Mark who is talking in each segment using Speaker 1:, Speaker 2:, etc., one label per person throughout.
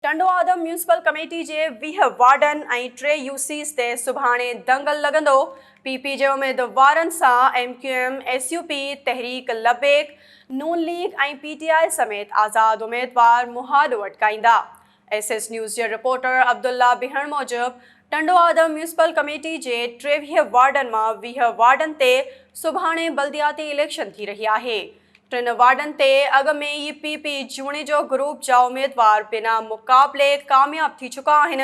Speaker 1: Tando Adam municipal committee جي ويهه وارڊن ۽ ٽي يو سيز تي سڀاڻي دنگل لڳندو، پي پي جي اميدوارن سان M Q M, S U P, تحريڪ لبيڪ، نون ليگ ۽ پي ٽي آء سميت آزاد اميدوار مهاڏو اٽڪائيندا. ايس ايس نيوز جي رپورٽر عبدالله بهڻ موجب ٽنڊو آدم ميونسپل ڪميٽي جي ٽيويهه وارڊن مان ويهه وارڊن تي سڀاڻي بلدياتي اليڪشن ٿي رهي آهي، ٽن وارڊن تي اڳ ۾ ئي پي پي جوڻيجو گروپ جا اميدوار بنا مقابلي ڪامياب ٿي چڪا آهن،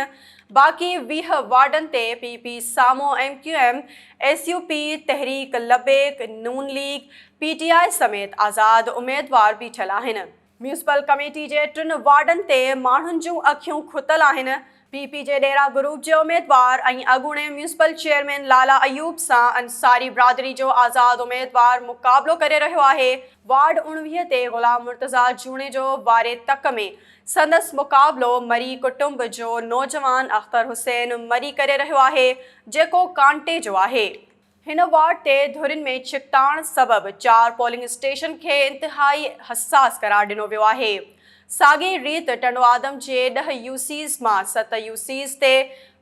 Speaker 1: باقي ويهه وارڊن تي پي پي سامهون M Q M, S U P, تحريڪ لبيڪ، نون ليگ، پي ٽي آء سميت آزاد اميدوار بيٺل آهن. ميونسپل ڪميٽي جي ٽن وارڊن تي ماڻهن جون اکيون کتل آهن، پي پي جي ڏيرا گروپ جي اميدوار ۽ اڳوڻي ميونسپل چيئرمين لالا ايوب سان انصاري برادري جو آزاد اميدوار مقابلو ڪري رهيو آهي، وارڊ اوڻويهه تي غلام مرتضيٰ جوڻيجو واري تڪ ۾ سندس مقابلو مري ڪٽنب جو نوجوان اختر حسين مري ڪري رهيو آهي، جيڪو ڪانٽي جو آهي. هن وارڊ تي ڌرين ۾ ڇڪتاڻ سبب چار پولنگ اسٽيشن کي انتهائي حساس قرار ڏنو ويو آهي. ساڳئي ريت ٽنڊوآدم جي ڏهه يو سيز مان ست يو سيز تي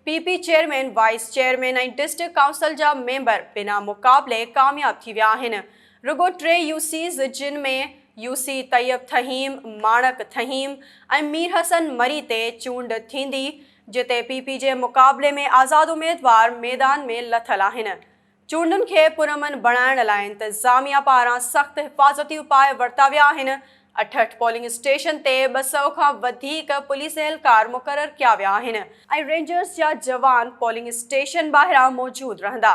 Speaker 1: P P chairman, vice chairman ۽ district council جا ميمبر بنا مقابلي ڪامياب ٿي ويا آهن. رڳو ٽي يو سيز جن ۾ يو سي طيب ٿهيم، ماڻڪ ٿهيم ۽ ميرحسن مري تي چونڊ ٿيندي جتي پي پي جي مقابلي ۾ آزاد اميدوار ميدان ۾ لٿل آهن. چونڊن کي پرامن بڻائڻ لاء انتظاميا پاران سخت حفاظتي اپاء ورتا ويا آهن، اٺهٺ پولنگ اسٽيشن تي ٻه سؤ کان وڌيڪ پوليس اهلڪار مقرر ڪيا ويا آهن ۽ رينجرز جا جوان پولنگ اسٽيشن ٻاهران موجود رهندا.